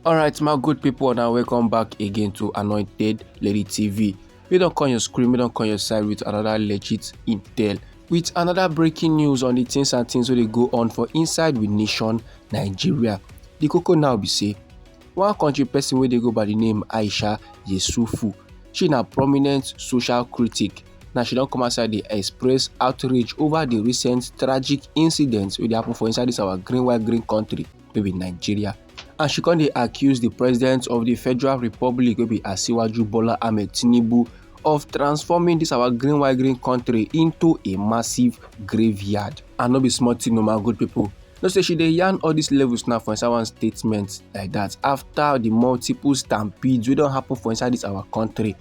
alright my good people now welcome back again to anointed lady tv we don't call your screen we don't call your side with another legit intel with another breaking news on the things and things where they go on for inside with nation nigeria the coco now be say One country person wey dey go by the name Aisha Yesufu, she na prominent social critic. Now she don come outside dey express outrage over the recent tragic incidents wey dey happen for inside this our green white green country wey be Nigeria. And she come dey accuse the president of the Federal Republic wey be Asiwaju Bola Ahmed Tinubu of transforming this our green white green country into a massive graveyard and no be small thing o my good people No say she dey yarn all these levels now for inside one statement like that after the multiple stampedes wey don happen for inside this our country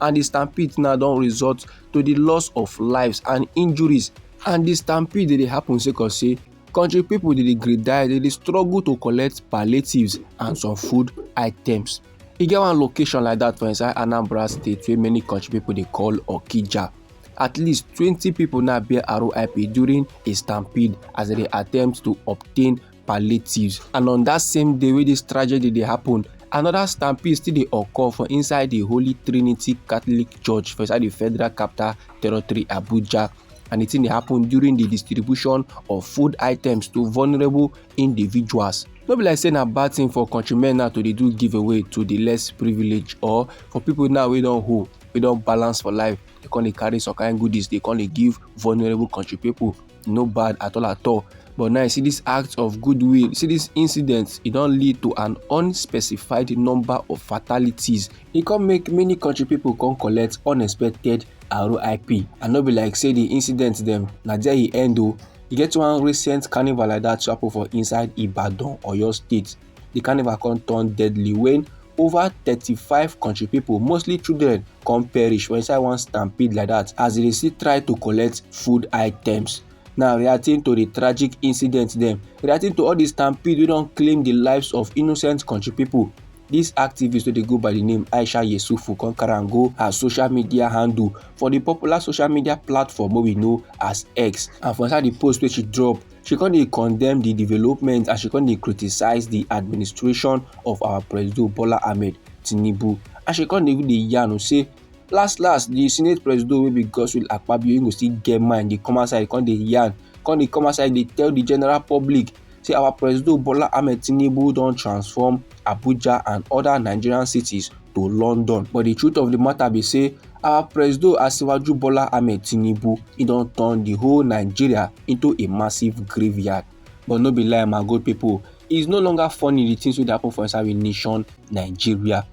and the stampedes now don result to the loss of lives and injuries and the stampede dey dey happen sake of say country people dey dey greet die dey dey struggle to collect palliatives and some food items e get one location like that for inside anambra state wey many country people dey call okija At least 20 people now bear RIP during a stampede as they attempt to obtain palliatives. And on that same day where this tragedy they happened, another stampede still dey occur for inside the holy trinity catholic church for inside the federal capital territory abuja and the thing dey happen during the distribution of food items to vulnerable individuals no be like say na bad thing for countrymen now to dey do giveaway to the less privileged or for people now wey don hold wey don balance for life dey come dey carry some kind goodies dey come dey give vulnerable country people no bad at all at all but now you see this act of goodwill see this incident e don lead to an unspecified number of fatalities e come make many country people come collect unexpected rip and no be like say the incident dem na there e end o e get one recent carnival like that to happen for inside ibadan oyo state di carnival come turn deadly when over 35 country people, mostly children come perish for inside one stampede like that as they still try to collect food items now reacting to the tragic incident dem reacting to all the stampede wey don claim the lives of innocent country people This activist wey dey go by the name aisha yesufu come carry am go her social media handle for the popular social media platform wey we know as x and for inside the post wey she drop she come dey condemn di development and she come dey criticise di administration of our presido bola ahmed tinubu and she come dey even dey yarn o say last last di senate presido wey be godswill akpabio he go still get mind dey come outside come dey yarn come dey come outside dey tell di general public say our presido bola ahmed tinubu don transform abuja and oda nigerian cities to london but di truth of di matter be say our presido asiwaju bola ahmed tinubu e don turn the whole nigeria into a massive graveyard but no be lie my good people it's no longer funny the things wey dey happen for inside we nation nigeria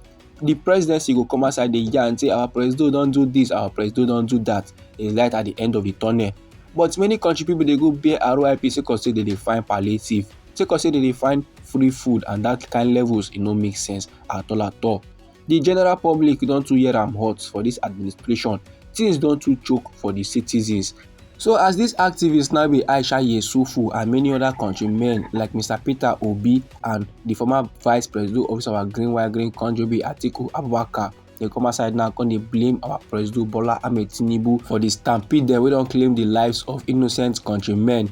the presidency go come outside dey yarn say our presido don do this our presido don do that e light at the end of the tunnel but many country people dey go bear rip sake of say they dey find palliative sake of say they dey find free food and that kind levels e no make sense at all at all Di general public don too hear am hot for dis administration, tins don too choke for di citizens. So as dis activists now be Aisha Yesufu and many oda countrymen like Mr Peter Obi and di former vice president of our Green White Green country be Atiku Abubakar dey come outside now come dey blame our president Bola Ahmed Tinubu for di stampede dem wey don claim di lives of innocent countrymen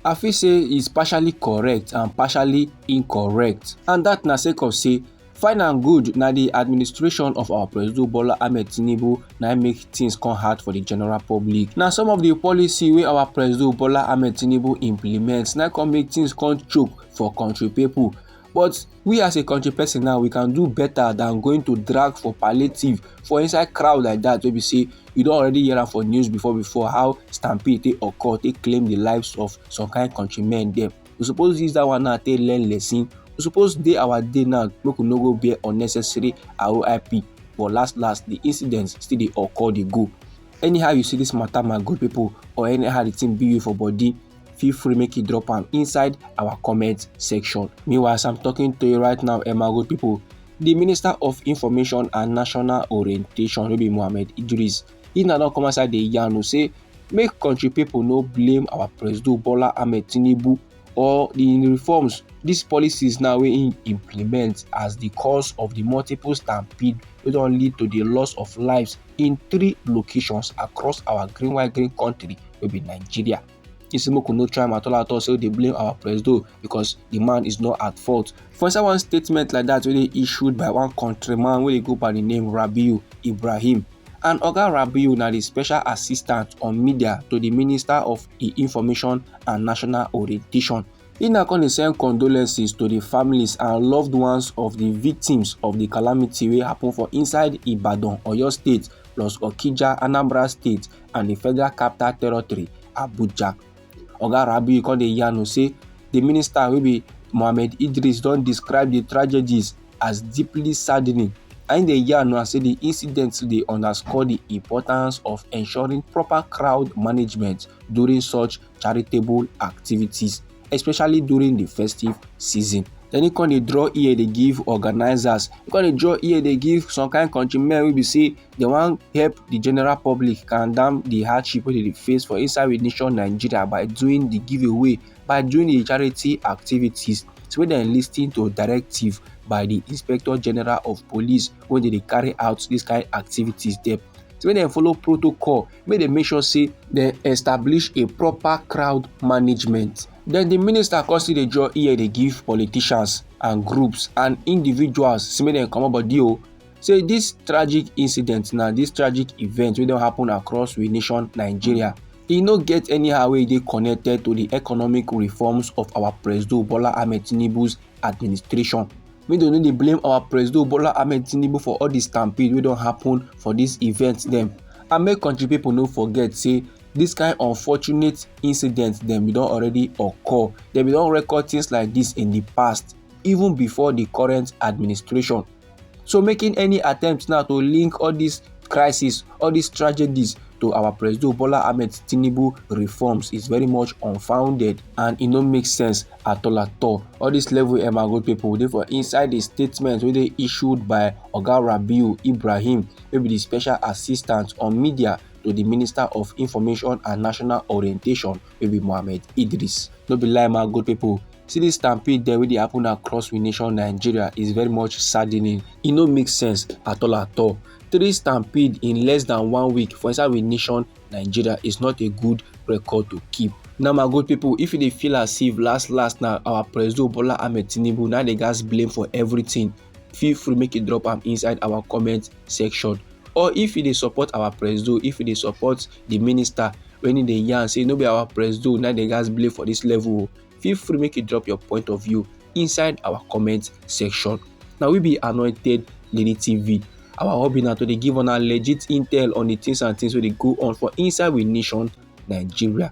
I feel say is partially correct and partially incorrect and dat na sake of say Fine and good, na the administration of our President Bola Ahmed Tinubu na make things come hard for the general public. Na some of the policy wey our President Bola Ahmed Tinubu implement na come make things come choke for country people. But we as a country person now, we can do better than going to drag for palliative for inside crowd like that wey be say you don already hear am for news before before how stampede take occur take claim the lives of some kind countrymen dem. we suppose use that one now take learn lesson we suppose dey our day now make we no go bear unnecessary roip but last last the incident still dey occur dey go anyhow you see this matter my good people or anyhow the thing be you for body feel free make you drop am inside our comment section meanwhile as i'm talking to you right now eh my good people the minister of information and national orientation wey be mohammed idris He na don come outside dey yarn o say make country people no blame our president Bola Ahmed Tinubu or the reforms these policies now wey im implement as the cause of the multiple stampede wey don lead to the loss of lives in three locations across our green white green country wey be nigeria He say make we no try am at all at all say we dey blame our presido because the man is not at fault. For inside one statement like that wey dey issued by one countryman wey dey go by the name Rabiu Ibrahim and Oga Rabiu na the special assistant on media to the Minister of Information and National Orientation. He now come dey send condolences to the families and loved ones of the victims of the calamity wey happen for inside Ibadan, Oyo State plus Okija, Anambra State and di federal capital territory abuja oga rabiu come dey yarn say di minister wey be mohammed idris don describe di tragedies as deeply saddening and dey yarn now say di incidents dey underscore di importance of ensuring proper crowd management during such charitable activities especially during di festive season then he come dey draw ear dey give organizers he come dey draw ear dey give some kind countrymen wey be say dem wan help the general public calm down the hardship wey dem dey face for inside we nation nigeria by doing the giveaway by doing the charity activities so make dem lis ten to directive by the inspector general of police wey dey dey carry out this kind activities dem so make dem follow protocol make dem make sure say dem establish a proper crowd management then the minister come still dey draw ear dey give politicians and groups and individuals say make dem comot body o say this tragic incident na this tragic event wey don happen across we nation nigeria e no get anyhow wey e dey connected to the economic reforms of our presido bola ahmed tinubu's administration make dem no dey blame our presido bola ahmed tinubu for all the stampede wey don happen for this event dem and make country people no forget say this kind unfortunate incident dem bin don already occur dem bin don record things like this in the past even before the current administration So making any attempt now to link all these crises, all these tragedies to our President Bola Ahmed Tinubu reforms is very much unfounded and it no make sense at all at all. All these level embargo people dey for inside the statement wey dey issued by Oga Rabiu Ibrahim wey be the special assistant on media to the Minister of Information and National Orientation wey be mohammed idris no be lie man good people see this stampede there wey dey happen across we nation nigeria is very much saddening e no make sense at all at all three stampede in less than one week for inside we nation nigeria is not a good record to keep now my good people if you dey feel as if last last na our president bola ahmed tinubu na dey gas blame for everything feel free make you drop am inside our comment section or if you dey support our presido if you dey support the minister when he dey yarn say no be our presido na dey gas blame for this level o feel free make you drop your point of view inside our comment section na we be anointed lady tv our hobby na to dey give una legit intel on the things and things wey dey go on for inside we nation nigeria